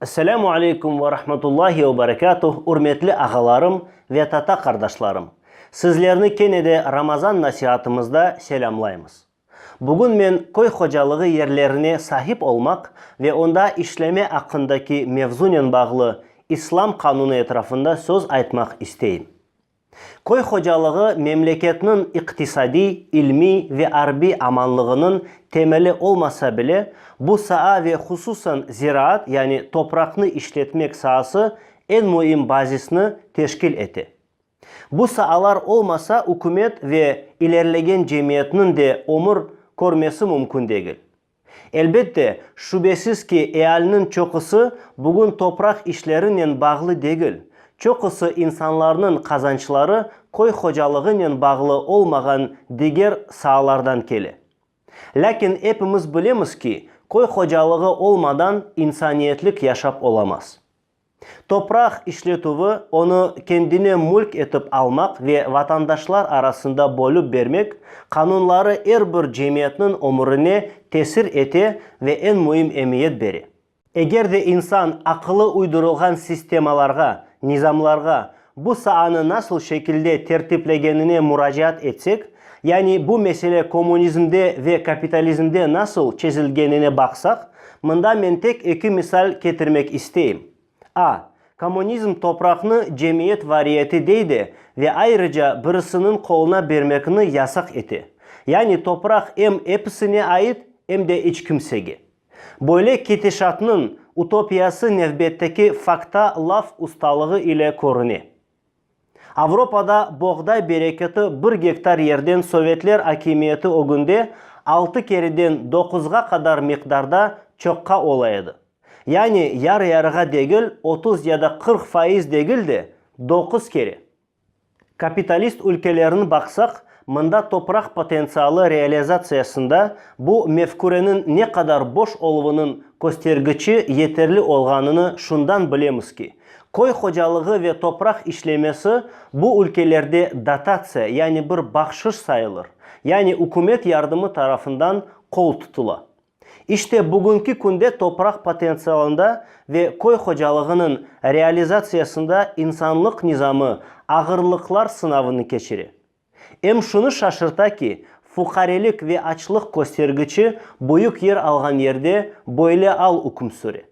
Esselamu aleykum ve rahmetullahi ve berekatuh, ürmetli ağalarım ve tata qardaşlarım! Sizlerni kene de Ramazan nasihatımızda selâmlaymız. Bugün men köy hocalığı yerlerine sahip olmaq ve onda işleme aqqındaki mevzunen bağlı İslam qanunı etrafında söz aytmaq isteyim. Köy hocalığı memleketniñ iqtisadiy, ilmiy ve arbiy amanlığınıñ temeli olmasa bile, bu saa ve hususan ziraat, yani topraqnı işletmek saası eñ müim bazisni teşkil ete. Bu saalar olmasa ükümet ve ilerlegen cemiyetniñ de ömür körmesi mümkün degil. Elbette, şübesiz ki, ealiniñ çoqusı bugün topraq işlerinen bağlı degil. Çoqusı insanlarnıñ qazançları köy hocalığınen bağlı olmağan diger saalardan kele. Lâkin epimiz bilemiz ki, köy hocalığı olmadan insaniyetlik yaşap olamaz. Topraq işletüvi, onı kendine mülk etip almaq ve vatandaşlar arasında bölüp bermek, qanunları er bir cemiyetniñ ömürine tesir ete ve eñ müim emiyet bere. Eger de insan aqılı uydurılğan sistemalarğa, nizamlarğa, Bu saanı nasıl şekilde tertiplegenine muracaat etsek, yani bu mesele kommunizmde ve kapitalizmde nasıl çezilgenine baqsaq, mında men tek eki misal ketirmek isteyim. A. Kommunizm topraqnı cemiyet variyeti dey de ve ayrıca birisiniñ qoluna bermekni yasaq ete. Yani topraq em episine ait, em de iç kimsege. Böyle ketişatnıñ utopiyası nevbetteki fakta laf ustalığı ile körüne. Avropada boğday bereketi bir gektar yerden sovetler akimiyeti ögünde altı kereden doquzğa qadar miqdarda çoqqa ola edi, yani yar-yarığa degil, otuz ya da qırq faiz degil de, doquz kere. Kapitalist ülkelerin baqsaq, mında topraq potentsialı realizatsiyasında bu mefküreniñ ne qadar boş oluvınıñ köstergiçi yeterli olğanını şundan bilemiz ki, köy hocalığı ve topraq işlemesi bu ülkelerde dotatsiya, yani bir bahşış sayılır, yani ükümet yardımı tarafından qol tutula. İşte, bugünki künde topraq potentsialında ve köy hocalığınıñ realizatsiyasında insanlıq nizamı ağırlıqlar sınavını keçire. Em şunı şaşırta ki, fuqarelik ve açlıq köstergiçi büyük yer alğan yerde böyle al üküm süre.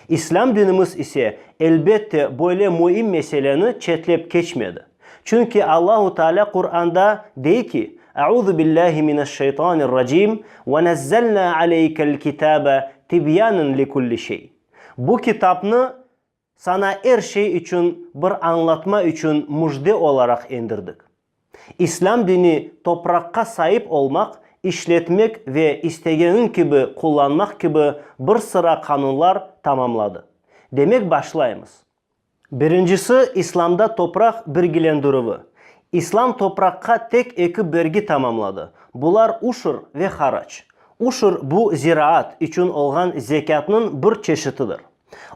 İslâm dinimiz ise, elbette, böyle müim meseleni çetlep keçmedi. Çünki Allahu Taalâ Quranda dey ki, Euzu billâhi mineşşeytanirracim, Ve nezzelnâ aleykel kitâbe tibyânen li kulli şey. Bu kitapnı Sana er şey içün bir añlatma içün müjde olaraq endirdik. İslâm dini topraqqa saip olmaq, işletmek ve istegenin kibi qullanmaq kibi bir sıra qanunlar tamamladı. Demek başlaymız. Birincisi İslâmda topraq birgilendirüvi. İslâm topraqqa tek eki bergi tamamladı, bular uşur ve haraç. Uşur bu ziraat içün olğan zekâtnıñ bir çeşitidir.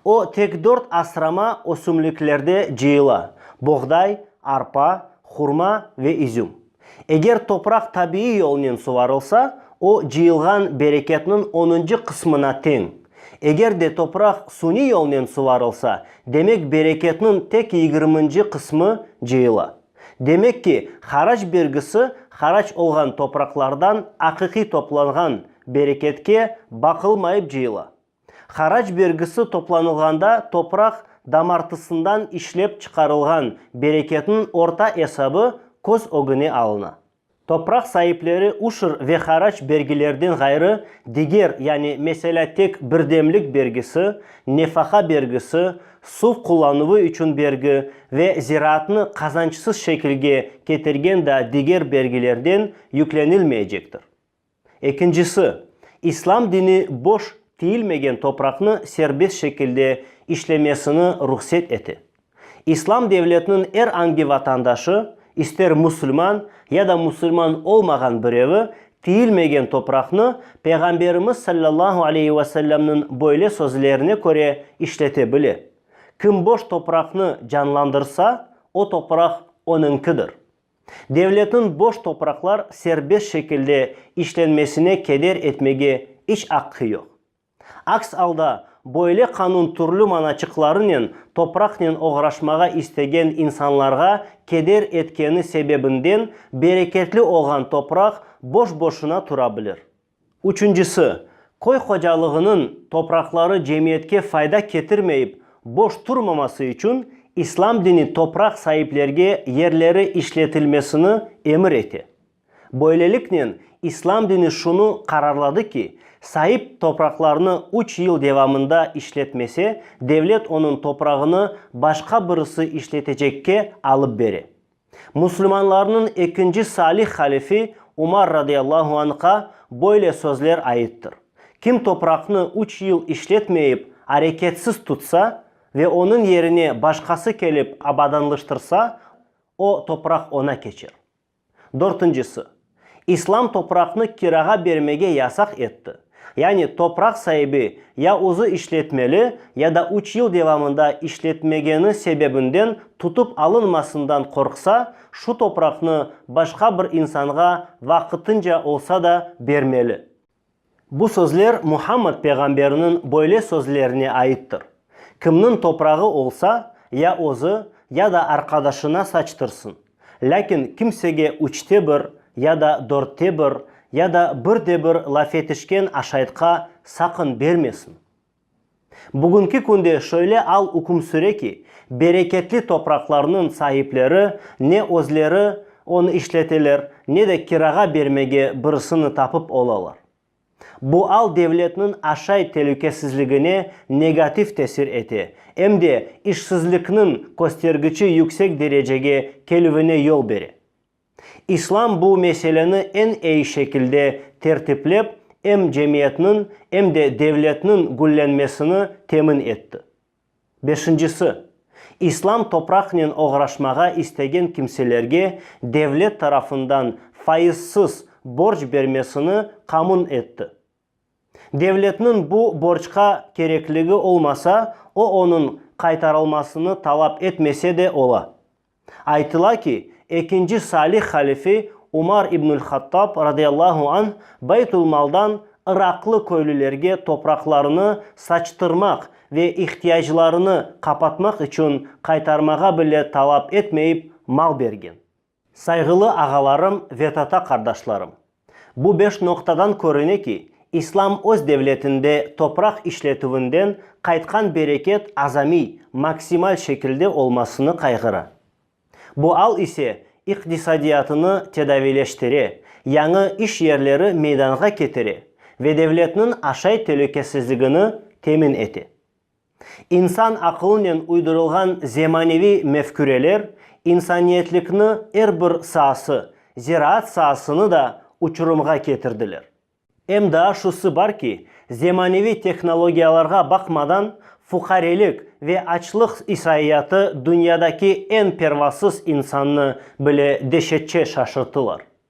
O, tek dört asrama ösümliklerde cıyıla, boğday, arpa, hurma ve izüm. Eger topraq tabiiy yolnen suvarılsa, o, cıyılğan bereketniñ onıncı qısmına teñ. Eger de topraq suniy yolnen suvarılsa, demek bereketniñ tek yigirminci qısmı cıyıla. Demek ki, harac bergisi harac olğan topraqlardan aqiqiy toplanğan bereketke baqılmayıp cıyıla. Harac bergisi toplanılğanda topraq damartısından işlep çıqarılğan bereketniñ orta esabı köz ögüne alına. Topraq saipleri uşr ve harac bergilerden ğayrı diger, yani, meselâ, tek birdemlik bergisi, nefaqa bergisi, suv qullanuvı içün bergi ve ziraatnı qazançsız şekilge ketirgen daa diger bergilerden yüklenilmeycektir. Ekincisi, İslam dini boş tiyilmegen topraqnı serbest şekilde işlemesini ruhset ete. İslam devletiniñ er angi vatandaşı, ister musulman ya da musulman olmağan birevi, tiyilmegen topraqnı Peyğamberimiz sallallahu aleyhi ve sellemniñ böyle sözlerine köre işlete bile, Kim boş topraqnı canlandırsa, o topraq onıñkidir. Devletniñ boş topraqlar serbest şekilde işlenmesine keder etmege iç aqqı yoq. Aks alda, böyle qanun türlü mana çıqlarınen topraqnen oğraşmağa istegen insanlarğa keder etkeni sebebinden bereketli olğan topraq boş-boşuna tura bilir. Üçüncisi, köy hocalığınıñ topraqları cemiyetke fayda ketirmeyip boş turmaması içün İslam dini topraq saiplerge yerleri işletilmesini emir ete. Böyleliknen İslam dini şunı qararladı ki, saip topraqlarnı üç yıl devamında işletmese, devlet onıñ toprağını başqa birisi işletecekke alıp bere. Müslümanlarnıñ ekinci salih halifi Umar radıyallahu anh'a böyle sözler aittir, Kim topraqnı üç yıl işletmeyip, areketsiz tutsa, ve onıñ yerine başqası kelip abadanlıştırsa, o topraq oña keçer. Dörtüncisi. İslam topraqnı kirağa bermege yasaq etti, yani topraq saibi ya özü işletmeli ya da üç yıl devamında işletmegeni sebebinden tutıp alınmasından qorqsa, şu topraqnı başqa bir insanğa vaqıtınca olsa da bermeli. Bu sözler Muhammad peyğamberniñ böyle sözlerine aittir, Kimniñ toprağı olsa, ya özü, ya da arqadaşına saçtırsın, lâkin kimsege üçte bir, ya da dörtte bir, ya da birde bir laf etişken aşaytqa saqın bermesin. Bugünki künde şöyle al üküm süre ki, bereketli topraqlarnıñ saipleri ne özleri onı işleteler, ne de kirağa bermege birisini tapıp olalar. Bu al devletniñ aşay telükesizligine negativ tesir ete, em de işsizlikniñ köstergiçi yüksek derecege kelüvine yol bere. İslam bu meseleni eñ eyi şekilde tertiplep, em cemiyetniñ, em de devletniñ güllenmesini temin etti. Beşincisi, İslam topraqnen oğraşmağa istegen kimselerge devlet tarafından faizsiz borc bermesini qamün etti. Devletniñ bu borcqa kerekligi olmasa, o onıñ qaytarılmasını talap etmese de ola. Aytıla ki, ekinci salih halifi Umar ibnül-Hattab, radıyallahu anh, Beytül-Maldan iraqlı köylülerge topraqlarını saçtırmaq ve ihtiyaclarını qapatmaq içün qaytarmağa bile talap etmeyip mal bergen. Sayğılı ağalarım ve tata qardaşlarım! Bu beş noqtadan körüne ki, İslam öz devletinde topraq işletüvinden qaytqan bereket azamiy, maksimal şekilde olmasını qayğıra. Bu al ise iqtisadiyatını tedaviyleştire, yañı iş yerleri meydanğa ketire ve devletniñ aşay telükesizligini temin ete. İnsan aqılınen uydurılğan zemaneviy mefküreler insaniyetlikni er bir saası, ziraat saasını da uçurımğa ketirdiler. Em daa şusı bar ki, zemaneviy tehnologiyalarğa baqmadan, fuqarelik ve açlıq isaiyatı dünyadaki eñ pervasız insannı bile deşetçe şaşırtılar.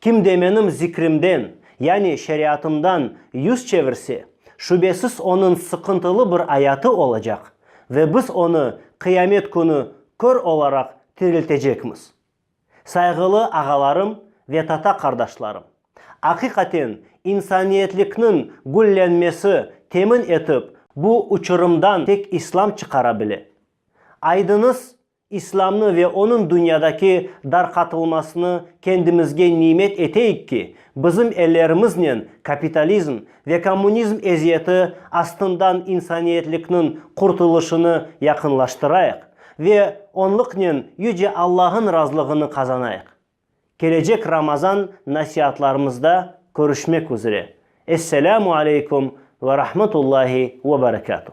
Kim de menim zikrimden, yani şeriatımdan yüz çevirse, şübesiz onıñ sıqıntılı bir ayatı olacaq, ve biz onı Qıyamet künü kör olaraq tiriltecekmiz. Sayğılı ağalarım ve tata qardaşlarım, aqiqaten insaniyetlikniñ güllenmesi temin etip bu uçurımdan tek İslam çıqara bile. Aydıñız, İslâmnı ve onıñ dünyadaki darqatılmasını kendimizge nimet eteyik ki, bizim ellerimiznen kapitalizm ve kommunizm eziyeti astından insaniyetlikniñ qurtulışını yaqınlaştırayıq ve onlıqnen Yüce Allahıñ razılığını qazanayıq. Kelecek Ramazan nasiatlarımızda körüşmek üzre. Esselâmu aleykum ve rahmetullahi ve berekâtuh.